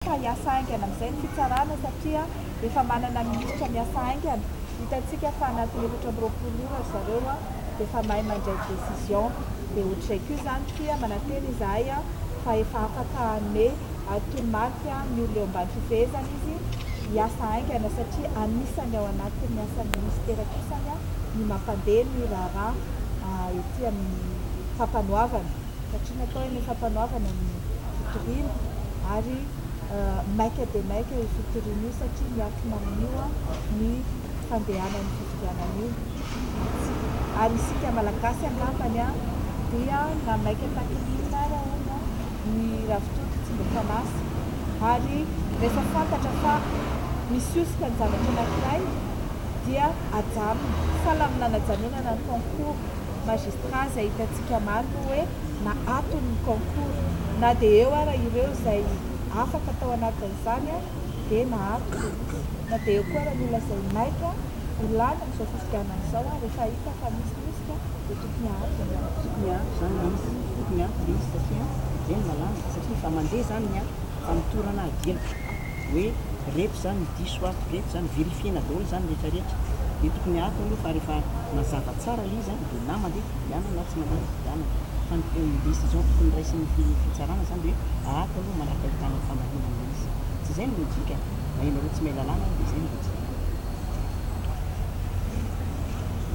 ka hiasa haingana amin'izay ny fitsarana satria efa manana minisitra miasa haingana, hitantsika fa anatin'ny efatra amby roapolo ora ry zareo dia efa mahay mandray décision, dia ohatr'izay koa izany fia manantena izahay fa efa afaka hanome toromarika ny olona eo ambany fifehezany izy hiasa haingana satria anisany ao anatin'ny asan'ny minisitera kosany ny mampandeha ny raharaha ety amin'ny fampanoavana. satria natao eny fampanoavana ny fitoriana ary maika dia maika io fitoriana io satria miankina amin'io ny fandehanan'ny fifidianana io ary isika malagasy angambany a dia na maika takin'inona ary ahoana ny ravitoto tsy mba fanasa ary rehefa fantatra fa misy hosoka ny zavatra anankiray dia ajanona fa laminana ajanonana ny concours Magistrat izay hitantsika maro moa hoe na ato ny concours na dia eo ara ireo izay afaka tao anatin'izany dia na ato na dia eo koa ara ny olona izay maika ho lany amin'izao fifidianana izao ary efa hita fa misy mihitsy dia tokony ato ny ato tokony ato izany misy tokony ato dia izy satria dia ny lalàna satria efa mandeha izany ny ato fa mitorana ato dia hoe retsy zany diso ato, retsy zany, vérifier-na daholo zany rehetra rehetra, de tokony ato aloha fa rehefa mazava tsara ilay izy an de na mandeha fifidianana na tsy mandeha fifidianana, fa ny décision tokony raisin'ny fitsarana zany de hoe ato aloha manaraka ahitana famarinana ilay izy, tsy zay ny logique? na ianareo tsy mahay lalàna de zay ny logique.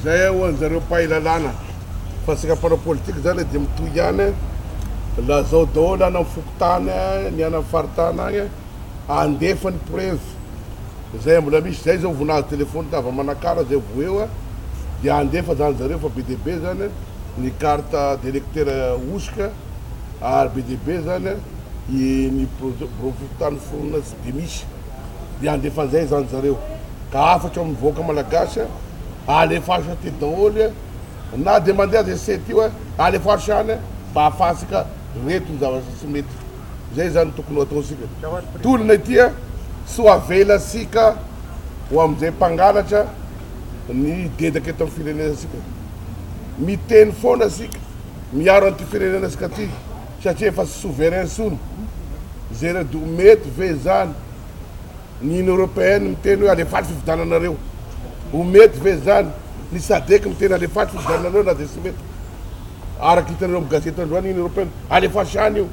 Zay ho anjareo mpahay lalàna fa antsika mpanao politika zany de mitohy ihany lazao daholo any am foko. tany ny any am faritany agny andefa ny preuve zay mbola misy zay zao vo nahazo telephone tava manakara zay vo eo de andefa zany zareo fa be dia be zany ny carte d'electeur hosoka ary be dia be zany i ny brovy tany foronina tsy de misy de andefa an'izay zany zareo ka hafatra amin'ny vahoaka malagasy alefaso aty daholy Na dia mandeha aza io site io a, alefaso ihany a, mba hahafahantsika reto ny zavatra tsy mety. Izay izany no tokony ho ataontsika. Tolona ity a, tsy ho avelantsika ho amin'izay mpangalatra ny dedaka eto amin'ny firenenantsika. Miteny foana isika, miaro an'ity firenenantsika ity satria efa tsy souverain intsony. Zeredy o, mety ve izany? Ny Union Européenne miteny hoe alefaso fifidiananareo. Ho mety ve izany? Ny Sadec miteny alefaso fifidiananareo na dia tsy mety. Araka hitanareo amin'ny gazety androany, Union Européenne alefaso ihany io.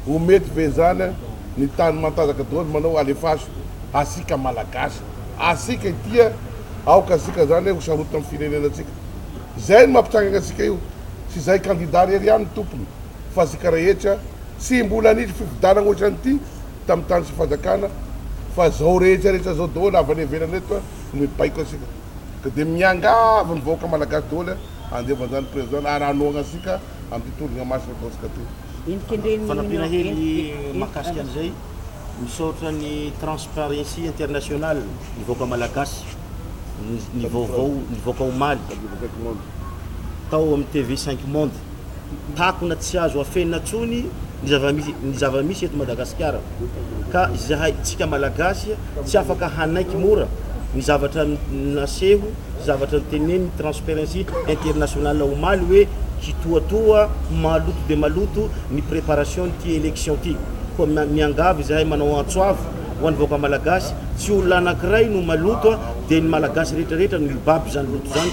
Ho mety ve izany? Ny tany matanjaka daholo manao alefaso. Asika Malagasy, asika ity a! Aoka isika izany ho sarotiny amin'ny firenenantsika. Izay no mampitrangana antsika io. Tsy izay kandida irery ihany no tompony fa isika rehetra. Tsy mbola nisy fifidianana ohatran'ity tamin'ny tany sy fanjakana fa zao rehetra rehetra zao daholo avy any ivelany reto no mibaiko antsika ka dia miangavy ny vahoaka malagasy daholo a andevo anzany président na raha hanohagna antsika amin'ity tologna masina ataontsika ty. Fanampiana hely mahakasika an'izay, misaotra ny Transparency International ny vahoaka malagasy ny vaovao nivoaka omaly tao amin'ny TV cinq monde. takona tsy azo afenina tsony ny zava-misy eto Madagasikara ka izahay tsika Malagasy tsy afaka hanaiky mora ny zavatra naseho sy zavatra notenenin'ny Transparency International omaly hoe hitoatoa maloto dia maloto ny preparation'ity élection ity koa miangavy izahay manao antso avo ho an'ny vahoaka Malagasy tsy olona anankiray no maloto dia ny Malagasy rehetra rehetra no hibaby izany loto izany